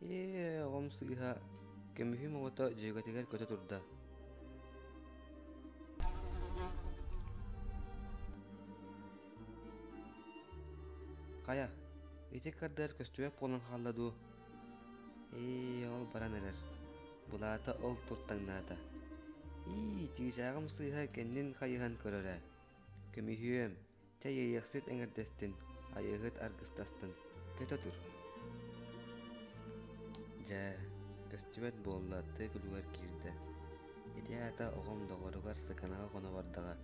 Ээ, оҕом сыыһа көмүһүм оҕото дьүөгэтигэр көтө турда. Хайа, ити кардыар көстүбэт буолан хаалла дуу? Ээ, ол баран эрэр. Былаата ол туртаҥнаата. Ии, чыычааҕым сыыһа кэннин хайыһан көрөрө. Көмүһүөм, Чэй ыйыахсыт эҥэрдэстин, айыыһыт аргыстастын, көтө тур. Дьэ, көстүбэт буолла тыа күлүгэр киирдэ. Ити аата оҕом доҕоругар сыкынаҕа хоно бардаҕа.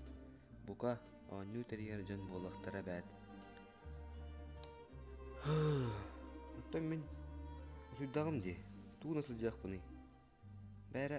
Бука, оонньуу тэрийэр дьон буолуохтара эбээт. Оттон мин усуйдаҕым дии, тууна сылдьыахпыный? Бээрэ,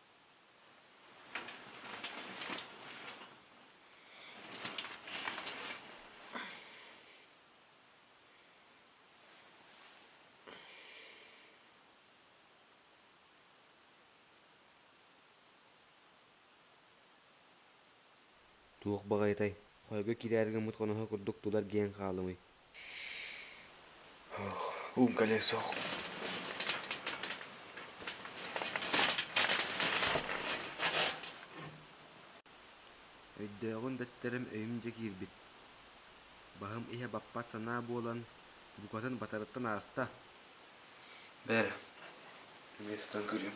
Туох баҕайытай, хойго кирээри гыммыт хоноһо курдук тулар гиэн хаалымый Умкале суох. Өйдөөҕүн дэттэрим өйүм дьэ киирбит. Баһым иһэ баппат санаа буолан, букатын батарыттан ааста. Бэр, эмиэ сытан көрүөм.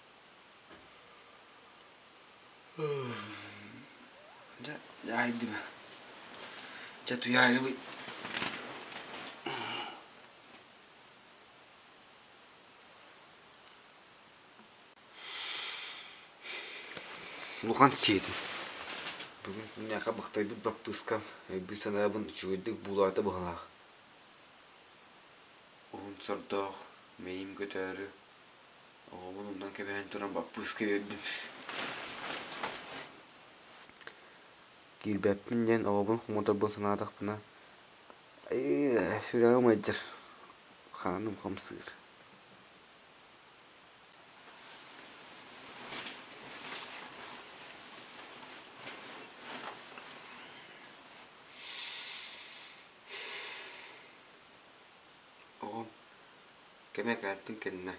Дьэ, дьаайдыма. Дьэ, туйаайыбыт. Улахан сиэтин. Бүгүн күннээхэ бахтайбыт баппыыска өйбүт санаабын үчүгэйдик буулаата быһалаах. Уһун сордоох, мэйиим көтөөрү, Оҕобун оннун кэбиһэн туран баппыыска үөрдүм Киирбэппин диэн оҕобун хомоторбун санаатахпына сүрэҕим ыйдьар хааным хамсыыр Оҕом кэмэ кэлтин кэннэ,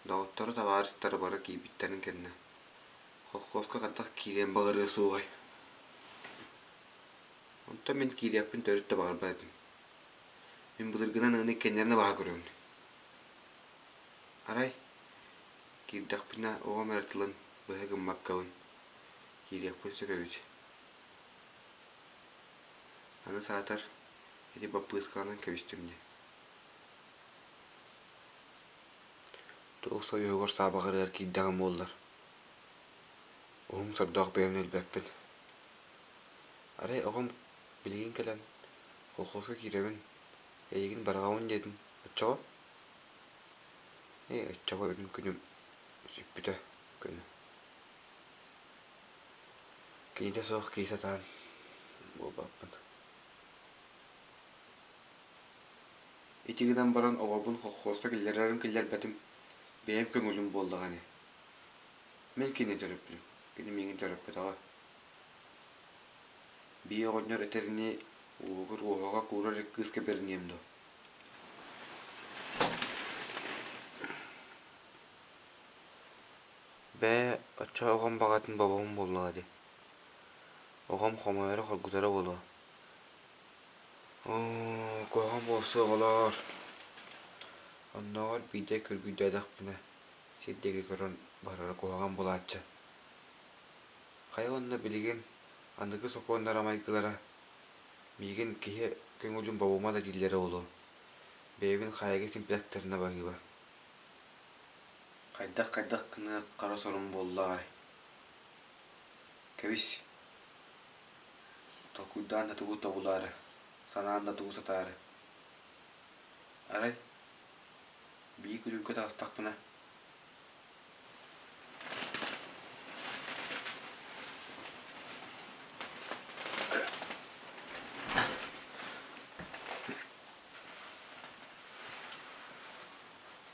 доҕотторо, табаарыстара бара киирбиттэрин кэннэ, холкуоска хантах киириэн баҕарыа суоҕай. Онтон мин киириэхпин төрүт да баҕарбат этим. Мин былыргынан ыаны иккэннэрин да баһа көрөбүн. Арай, киирдэхпинэ оҕом эрэ тылын быһа гыммаккабын, киириэхпин сөп эбит. Аны саатар, ити баппыыскаланан кэбистим дии Туох союһугар саабаҕырыгар киирдэҕим буоллар, уһум сордоох бэйэм өлбөппүн. Арай оҕом билигин кэлэн колхозка киирэбин, эйигин барҕаҕын диэтим, оччоҕо? Ээ, оччоҕо үнүм күнүм сүппүтэ күнү Киитэ суох кии сатаан буолбаппыт. Ити гынан баран оҕобун холхуоска киллэрэрим киллэрбэтим, бэйэм көҥүлүм буоллаҕа ини. Мин кини төрөппүтүм, кини миигин төрөппөтөҕө. Бии оҕонньор этэринии, уоһугар уоһаҕа куурар ик кыыска бэриниэм дуо Бээ, оччо оҕом баҕатын бобобун буоллаҕа дии, оҕом хомойоро хоргутара буолуо. Оо, куһаҕан буолсу оҕолоор, оннооҕор биирдэ көргүйдээтэхпинэ сир диэки көрөн барара куһаҕан буолааччы. Хайа уонна билигин аныгы сокуоннара майгылара миигин киһи көҥүлүн бобума да дииллэрэ буолуо, бэйэбин хайыга симплэхтэринэ барыыба. Хайдах-хайдах гыныах хара сорум буоллаҕай Кэбис, толкуйдаан да тугу тобулаары, санаан да тугу сатаары. Арай, бии күлүүргэ таҕыстахпына